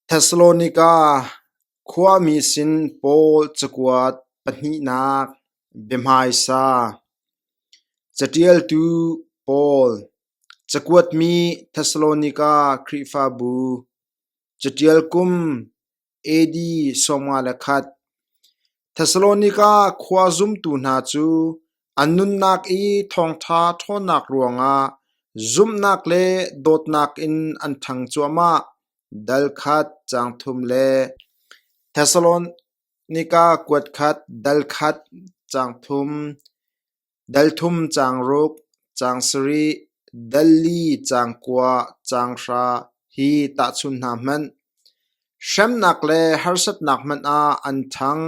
Thessalonika khuami sin Paul cakuat pahnihnak biahmaisa Caṭialtu Paul, cakuatmi Thessalonika Khrihfabu, caṭial kum AD sawmnga le khat. Thesalonika khua zumtu hna cu an nunnak i thawngṭha ṭhawnnak ruangah zumhnak le dawtnak in an ṭhang cuahmah. Dal khat caang thum le Thesalonika kuat khat dal khat caang thum. Dal thum caang ruk, caang sarih, dal li caang kua, caang hra hi tahchun hna hmanh. Hremnak le harsatnak hmanh ah an thang.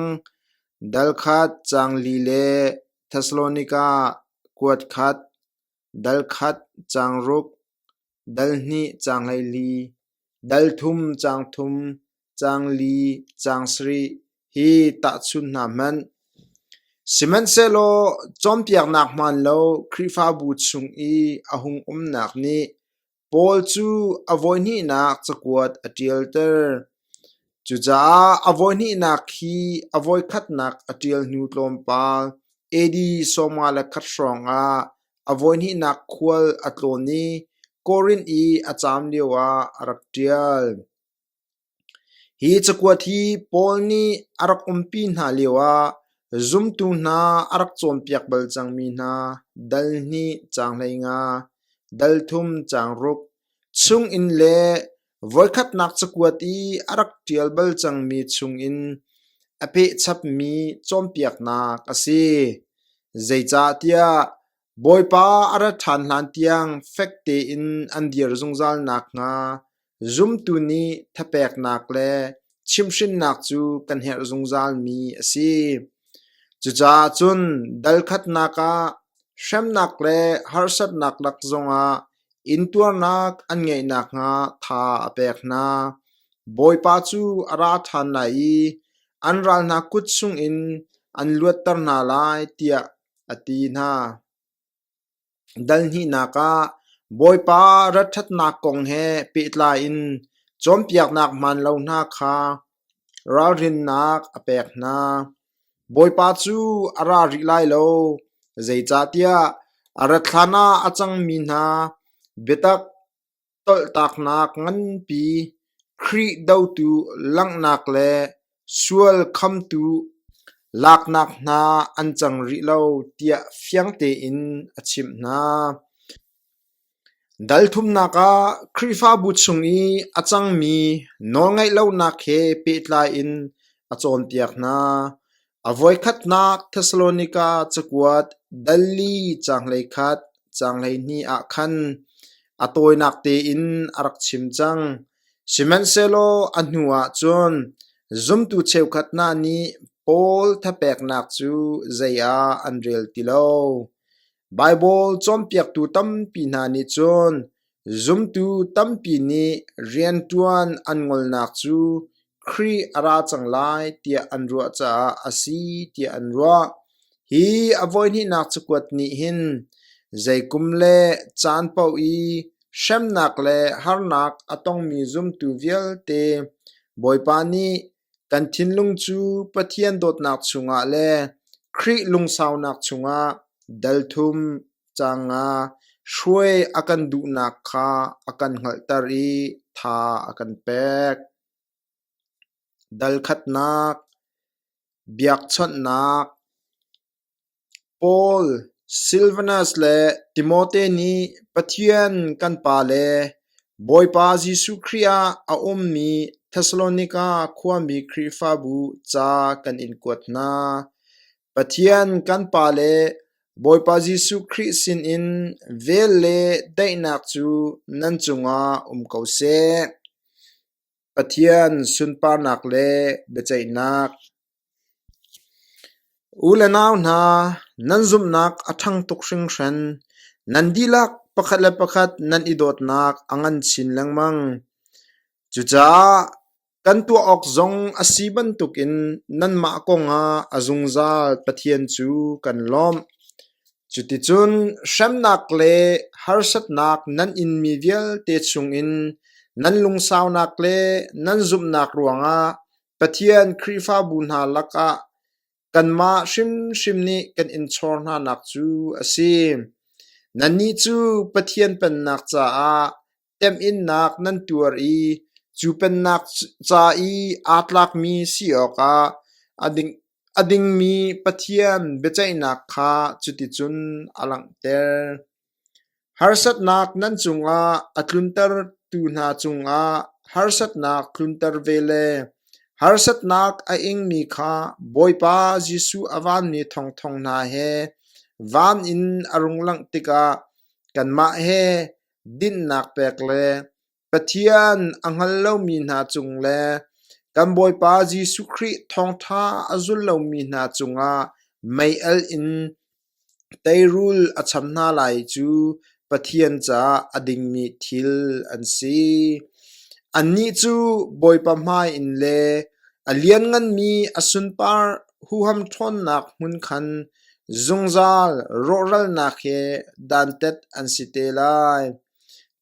Dal khat caang li le Thessalonika kuat khat, dal khat caang ruk, Dal hnih caang hleili, dal thum caang thum, caang li caang sarih hi tahchun hna hmanh. Sihmanhsehlaw cawnpiaknak hmaan lo Khrihfabu chung i a hung umnak nih Paul cu a voihnihnak cakuat a ṭialter. Cucaah a voihnihnak hi a voikhatnak a ṭial hnu tlawmpal AD sawma le khat hrawngah A voihnihnak khual a tlawn i Korinth i a caam lioah a rak ṭial. Hi cakuat hi Paul nih a rak umpi hna lioah zumtu hna a rak cawnpiak bal cangmi hna dal hnih caang hleinga, dal thum caang ruk, chunginn le Voikhatnak cakuat i a rak ṭial bal cangmi chungin a pehchapmi cawnpiaknak a si. Zeicahtiah Bawipa a ra ṭhan hlantiang fek tein an dir zungzal nakhnga zumtu nih thapeknak le chimhrinnak cu kan herh zungzalmi a si. Cucaah cun dal khatnak ah hremnak le harsatnak lak zongah Intuarnak an ngeih nakhnga tha a pek hna. Bawipa cu a ra ṭhan lai i an ral hna kut chungin an luatter hna lai, tiah a ti hna. Dal hnihnak ah Bawipa rat ṭhatnak kong he pehtlai in cawnpiaknak hmaan lo hna kha Ralrinnak a pek hna. Bawipa cu a ra rih lai lo, zeicahtiah a rat hlanah a cangmi hna biatak tolhtaknak nganpi, Khrih dotu langhnak le sual khamtu laknak hna an cang rih lo tiah fiang tein a chimh hna. Dalthumnak ah Khrihfabu chung i a cangmi nawlngaihlonak he pehtlai in a cawnpiak hna. A voikhatnak Thessalonika cakuat dal li caanglei khat caanglei hnih ah khan a tawinak tein a rak chim cang. Sihmanhsehlaw a hnuah cun zumtu cheukhat hna nih Paul thapeknak cu zei ah an rel ti lo. Baibal cawnpiaktu tampi hna nih cun zumtu tampi nih rianṭuan an ngolnak cu Khrih a ra cang lai tiah an ruah caah a si tiah an ruah. Hi a voihnihnak cakuat nih hin zeikum le caan paoh i hremnak le harnak a tongmi zumtu vialte Bawipa nih Kan thinlung cu Pathian dawtnak chungah le Khrih lungsaunak chungah dalthum ca nga hruai a kan duhnak kha a kan hngalhter i tha a kan pek. Dalkhatnak, biakchawnhnak, Paul, Silvanus le Timote nih Pathian kan Pa le Bawipa Jesuh Khrih ah a ummi Thessalonika khuami Khrihfabu ca kan in kuat hna. Pathian kan Pa le Bawipa Jesuh Khrih sinin vel le daihnak cu nan cungah um ko seh. Pathian sunparnak le biaceihnak U le nau hna, nan zumhnak a ṭhang tuk hringhran. Nan dihlak pakhat le pakhat nan i dawtnak a ngan chin lengmang. Cucaah kan tuah awk zong a si bantukin nanmah kongah a zungzal Pathian cu kan lawmh. Cuticun hremnak le harsatnak nan inmi vialte chungin nan lungsaunak le nan zumhnak ruangah Pathian Khrihfabu hna lakah kanmah hrimhrim nih kan in chawr hnanak cu a si. Nannih cu Pathian Pennak caah temhinnak nan tuar i cu Pennak ca i aa tlakmi si awkah a dingmi Pathian biaceihnak kha cuticun a langhter. Harsatnak nan cungah a tluntertu hna cungah harsatnak tlunter ve le harsatnak a ingmi kha Bawipa Jesuh a vanmi thawngthawng hna he van in a rung langh tikah kanmah he dinnak pek le Pathian a hngal lomi hna cung le kan Bawipa Jesuh Khrih thawngṭha a zul lomi hna cungah meialh in teirul a cham hna lai cu Pathian caah a dingmi thil an si. Annih cu Bawipa hmai in le a liannganmi a sunpar huham ṭhawnnak hmun khan zungzal rawhralnak he dantat an si te lai.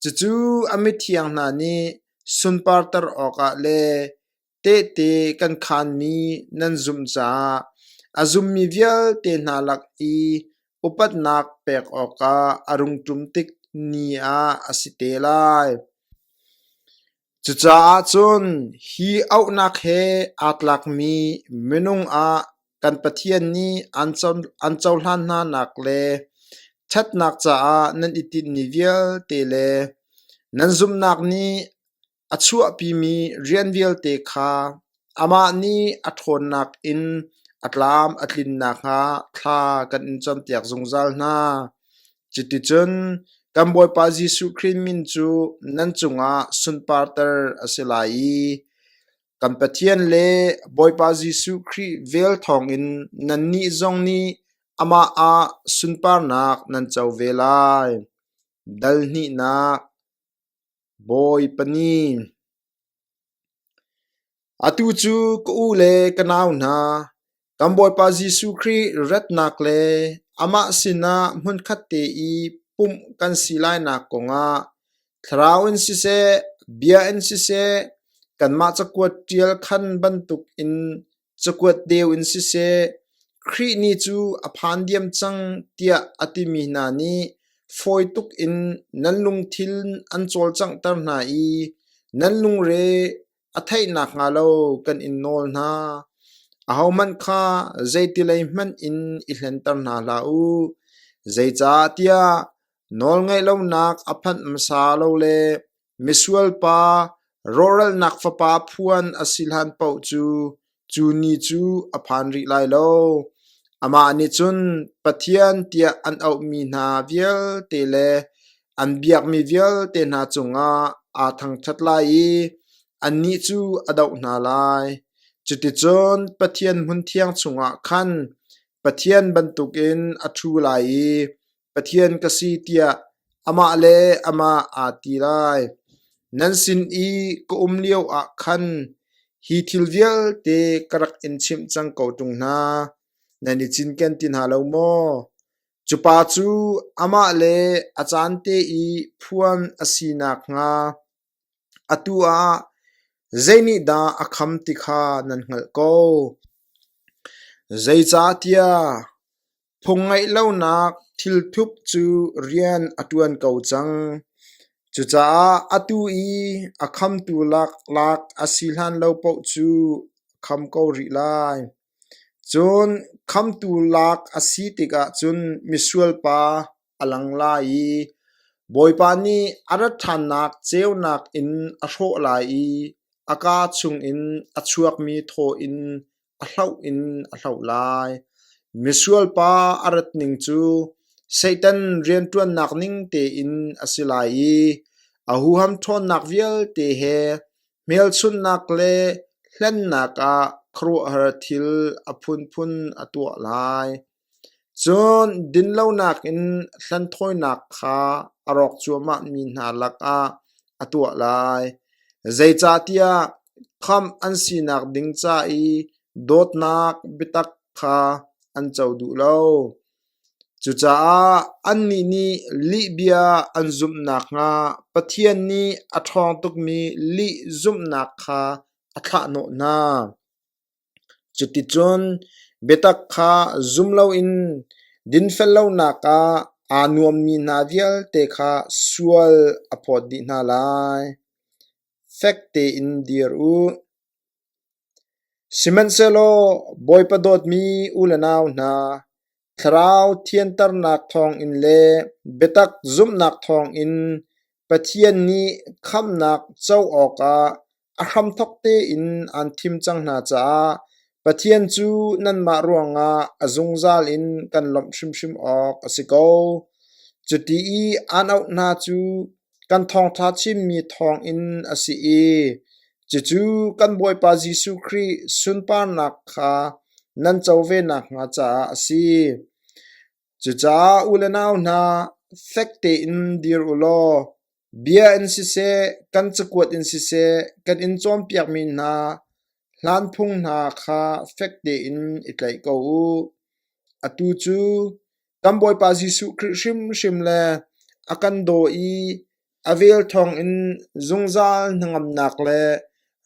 Cucu a mithiang hna nih sunparter awkah le tehte kan khaanmi nan zumh caah a zummi vialte hna lak i upatnak pek awkah a rung ṭum tik ni ah a si te lai. Cucaah cun hi auhnak he aa tlakmi minung ah kan Pathian nih an cohlan hnanak le ṭhatnak caah nan i tinhmi vialte le nan zumhnak nih a chuahpimi rian vialte kha amah nih a ṭhawnnak in a tlam a tlin nakhnga thla kan in campiak zungzal hna. Cuticun kan Bawipa Jesuh Khrih min cu nan cungah sunparter a si lai i kan Pathian le Bawipa Jesuh Khrih vel thawngin nannih zong nih amah ah sunparnak nan co ve lai. Dal hnihnak Bawipa nih, “Atu cu ka u le ka nau hna, kan Bawipa Jesuh Khrih ratnak le amah sinah hmunkhat te i pumh kan si lainak kongah thlarau in siseh, bia in siseh, kanmah cakuat ṭial khan bantukin cakuat deu in siseh Khrih ni cu a phan diam cang tiah a timi hna nih fawi tuk in nan lungthin an cawlcanghter hna i nan lungre a theih nakhnga lo kan in nawl hna. Ahohmanh kha zeitilei hmanh in i hlenter hna hlah u. Zeicah tiah nawlngaih lonak a phanh hmasa lo le Misualpa rawhralnak fapa phuan a si hlan paoh cu cu ni cu a phan rih lai lo. Amah nih cun Pathian tiah an auhmi hna vialte le an biakmi vialte hna cungah aa thangṭhat lai i annih cu a doh hna lai. Cuticun Pathian hmun thiang chungah khan Pathian bantukin a ṭhu lai i Pathian ka si tiah amah le amah aa ti lai. Nan sin i ka um lio ah khan hi thil vialte ka rak in chimh cang ko ṭung hna. Nan i cinken ti hna lo maw? Cu pa cu amah le a caan te i phuan a si nakhnga Atu ah zeinihdah a kham ti kha nan hngalh ko. Zeicahtiah phung ngeih lonak thilthup cu rian a ṭuan ko cang. Cucaah atu i a khamtu laklak a si hlan lo paoh cu kham ko rih lai. Cun khamtu lak a si tikah cun misual pa, a lang lai i Bawipa nih a rat ṭhannak ceunak in a hrawh lai i a kaa chungin a chuakmi thaw in a hloh in a hloh lai. Misualpa a rat ning cu Satan rianṭuannak ning tein a si lai i a huham ṭhawnnak vialte he hmelchunhnak le hlennak ah khuaruahhar thil a phunphun a tuah lai. Cun dinlonak in hlanthawinak kha a rawk cuahmah mi hna lakah a tuah lai, zeicahtiah khamh an sinak ding ca i dawtnak biatak kha an co duh lo. Cucaah annih nih lihbia an zumh nakhnga Pathian nih a ṭhawng tukmi lih zumhnak kha a thlahhnawh hna. Cuticun biatak kha zum loin dinfel lonak ah aa nuammi hna vialte kha sual a phawt dih hna lai. Fek tein dir u. Sihmanhsehlaw Bawipa dawtmi u le nau hna, Thlarau thianternak thawngin le biatak zumhnak thawngin Pathian nih khamnak co awkah a hramthawk tein aan thim cang hna caah Pathian cu nanmah ruangah a zungzal in kan lawmh hrimhrim awk a si ko. Cuti i aan auh hna cu Kan thawngṭha chimmi thawngin a si i cucu kan Bawipa Jesuh Khrih sunparnak kha nan co ve nakhnga caah a si. Cucaah u le nau hna, fek tein dir u law bia in siseh, kan cakuat in siseh, kan in cawnpiakmi hna hlan phung hna kha fek tein i tlaih ko u. Atu cu Kan Bawipa Jesuh Khrih hrimhrim le a kan daw i a vel thawngin zungzal hnangamnak le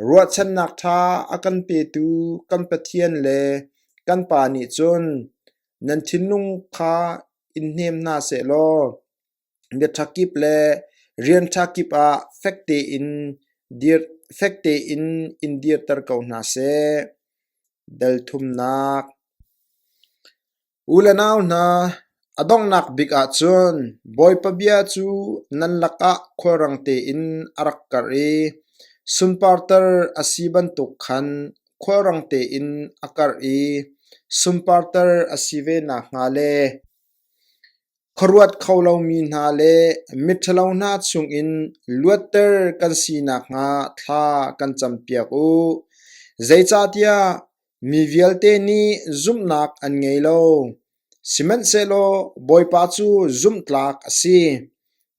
ruahchannak ṭha a kan petu kan Pathian le kan Pa nih cun nan thinlung kha in hnem hna sehlaw biaṭha kip le rian ṭha kip ah fek tein dir fek tein in dirter ko hna seh. Delthumnak U le nau hna, a donghnak bik ah cun Bawipa bia cu nan lakah khulrang tein a rak karh i sunparter a si bantuk khan khulrang tein a karh i sunparter a si ve nakhnga le khuaruat kho lomi hna le miṭhalo hna chungin luatter kan si nakhnga thla kan campiak u. Zeicahtiah Mi vialte nih zumhnak an ngei lo, sihmanhsehlaw Bawipa cu zumhtlak a si.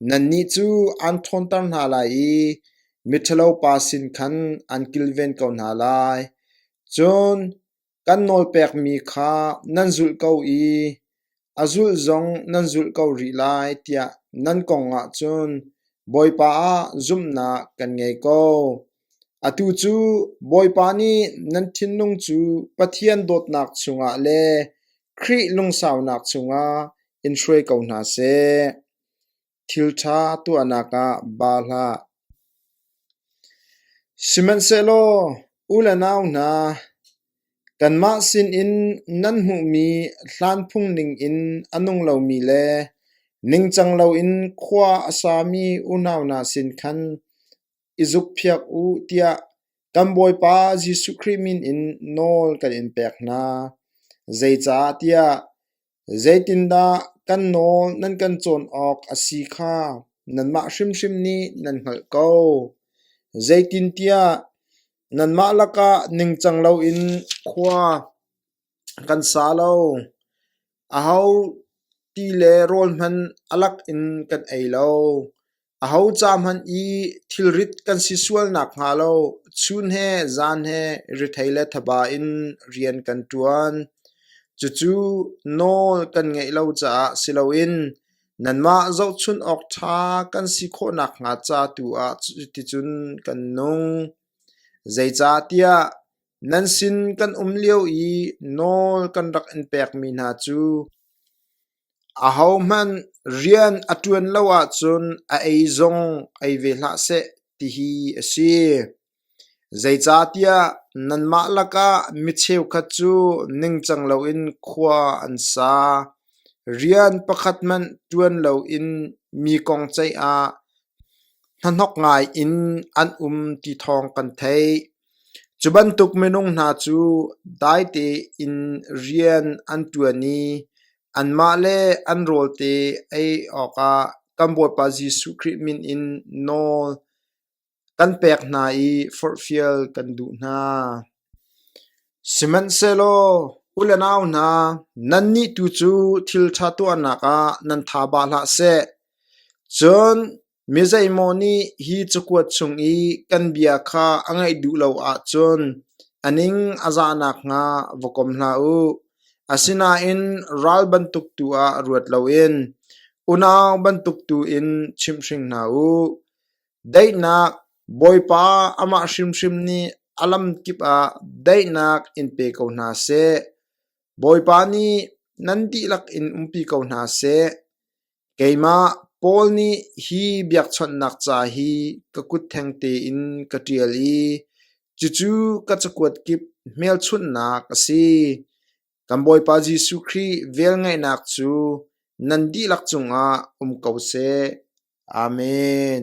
Nannih cu an ṭhawnter hna lai i miṭhalopa sin khan an kilven ko hna lai. Cun kan nawlpekmi kha nan zulh ko i A zulh zong nan zulh ko rih lai tiah nan kong ahcun Bawipa ah zumhnak kan ngei ko. Atu cu Bawipa nih nan thinlung cu Pathian dawtnak chungah le Khrih lungsaunak chungah in hruai ko hna seh. Thilṭha tuahnak ah baa hlah. Sihmanhsehlaw u le nau hna, kanmah sinin nan hmuhmi hlan phungning in a nung lomi le ningcang loin khua a sami unau hna sin khan i zukphiak u tiah kan Bawipa Jesuh Khrih min in nawl kan in pek hna. Zeicahtiah Zeitindah kan nawl nan kan cawn awk a si kha nanmah hrimhrim nih nan hngalh ko. Zeitintiah nanmah lakah ningcang loin khua kan sa lo. Aho ti le rawl hmanh a lak in kan ei lo. Aho ca hmanh i thilrit kan si sual nakhnga lo chun he zan he rithei le thaba in rian kan ṭuan. Cucu nawl kan ngeih lo caah si loin nanmah zohchunh awk ṭha kan si khawh nakhnga ca tu ah cuticun kan nung. Zeicahtiah nan sin kan um lio i nawl kan rak in pekmi hna cu Ahohmanh rian a ṭuan lo ahcun a ei zong ei ve hlah seh tihi a si. Zeicahtiah nanmah lakah mi cheukhat cu ningcang loin khua an sa. Rian pakhat hmanh ṭuan loin mi kong ceih ah Hnahnok ngai in an um ti thawng kan theih. Cu bantuk minung hna cu dai tein rian an ṭuan i anmah le an rawlte ei awkah kan Bawipa Jesuh Khrih min in nawl kan pek hna i forhfial kan duh hna. Sihmanhsehlaw u le nau hna, nannih tu cu thilṭha tuahnak ah nan tha bah hlah seh. Cun mi zeimaw nih hi cakuat chung i kan bia kha a ngaih duh lo ahcun a ning a zah nakhnga va kom hlah u. Asinain ral bantuk tu ah ruat loin unau bantuk tu in chimhhring hna u. Daihnak Bawipa amah hrimhrim nih a lam kip ah daihnak in pe ko hna seh. Bawipa nih nan dihlak in umpi ko hna seh. Keimah Paul nih hi biakchawnhnak ca hi ka kut theng tein ka ṭial i cucu ka cakuat kip hmelchunhnak a si. Kan Bawipa Jesuh Khrih velngeihnak cu nan dihlak cungah um ko seh. Amen.